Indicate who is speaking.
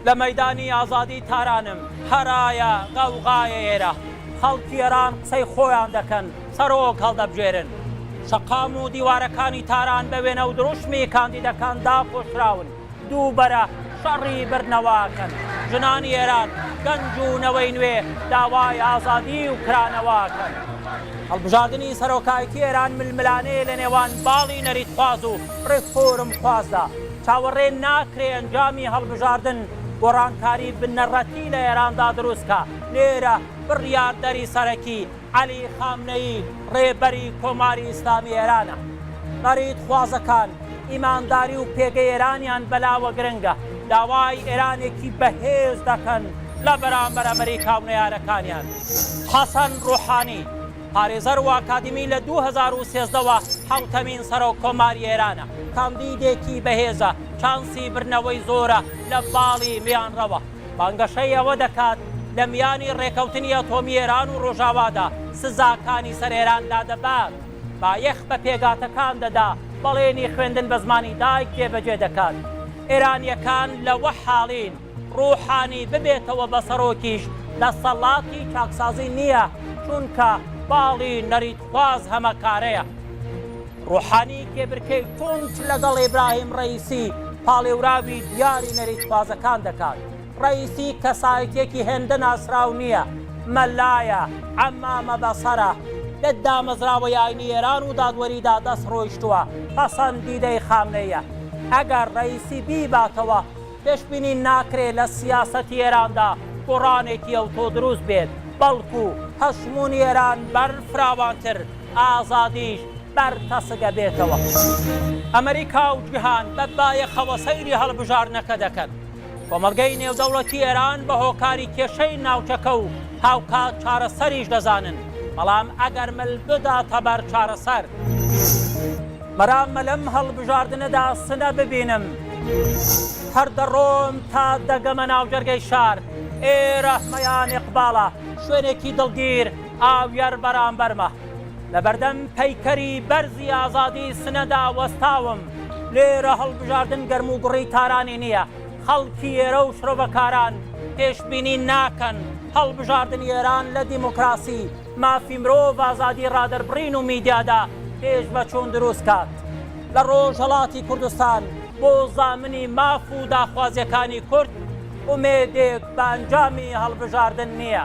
Speaker 1: لە مەیدانی ئازادی تارانم هەرایە غەوغایە ئێرە خەڵکی ئێران قسەی خۆیان دەکەن سەرۆک هەڵدەبژێرن شەقام و دیوارەکانی تاران بە وێنە و دروشمی کاندیدەکان داپۆشراون دووبەرە شەڕی بردنەواکەن، ژنانی ئێران، گەنج و نەوەی نوێ داوای ئازادی و کرانەواکەن. هەڵبژاردنی سەرۆکایەتی ئێران ململانێ لە نێوان باڵی نەریتخواز و ڕێفۆرمخوازدا چاوەڕێ ناکرێ ئەنجامی هەڵبژاردن گۆڕانکاری بنەڕەتی لە ئێراندا دروستکا، لێرە بڕیاردەری سەرەکی عەلی خامنەیی ڕێبەری کۆماری ئیسلامی ئێرانە. بەریتخوازەکان ئیمانداری و پێگەی ئێرانیان بەلاوە گرنگە، داوای ئێرانێکی بەهێز دەکەن لە بەرامبەر ئەمریکا و نەیارەکانیان. حەسەن ڕوحانی، پارێزەر و ئاکادیمی لە دوو هەزار و سێزدە وە حەوتەمین سەرۆک کۆماری ئێرانە. کاندیدێکی بەهێزە، چانسی بردنەوەی زۆرە لە باڵی میانڕەوە. بانگەشەی ئەوە دەکات لە میانی ڕێکەوتنی ئەتۆمی ئێران و ڕۆژاوادا سزاکانی سەر ئێران لادەبات، بایەخ بە پێگاتەکان دەدا، بەڵێنی خوێندن بە زمانی دایک جێبەجێ دەکات. ئێرانییەکان لەوە حاڵین ڕووحانی ببێتەوە بە سەرۆکیش دەسەڵاتی چاکسازی نییە، چونکە باڵی نەریت. باز هەمە کارەیە. ڕۆحانی کێبرکێی توند لەگەڵ ئیبراهیم ڕەئیسی پاڵێوراوی دیاری نەریتخوازەکان دەکات. ڕەئیسی کەسایەتییەکی هێندە ناسراو نییە، مەلایە، عەمامە بەسەرە، لە دامەزراوەی ئاینی ئێران و دادوەریدا دەست ڕۆیشتووە، پەسەندیدەی خامنەییە، ئەگەر ڕەئیسی بیباتەوە پێشبینی ناکرێت لە سیاسەتی ئێراندا گۆڕانێکی ئەوتۆ دروست بێت، بەڵکو هەژموونی ئێران بەر فراوانتر، ئازادیش بەر تەسک ئەبێتەوە. ئەمریکا و جیهان بە بایەخەوە سەیری هەڵبژاردنەکە دەکەن. کۆمەڵگەی نێودەوڵەتی ئێران بە هۆکاری کێشەی ناوچەکە و هاوکات چارەسەریش دەزانن، بەڵام ئەگەر مل بداتە بەر چارەسەر، مەراممە لەم هەڵبژاردنەدا سنە ببینم. هەر دەڕۆم تا دەگەمە ناو جەرگەی شار. ئێرە مەیان ئیقباڵە، شوێنێکی دڵگیر، ئاویەر بەرامبەرمە. لەبەردەم پەیکەری بەرزی ئازادی سنەدا وەستاوم. لێرە هەڵبژاردن گەرموگوڕی تارانی نییە. خەڵکی ئێرە و شرۆڤەکاران پێشبینی ناکەن هەڵبژاردنی ئێران لە دیموکراسی، مافی مرۆڤ، ئازادی ڕادەربڕین و میدیادا پێشڤەچوون دروست کات لە ڕۆژهەڵاتی کوردستان. بۆ زامنی ماف و داخوازیەکانی کورد ئومێدێک بە ئەنجامی هەڵبژاردن نییە.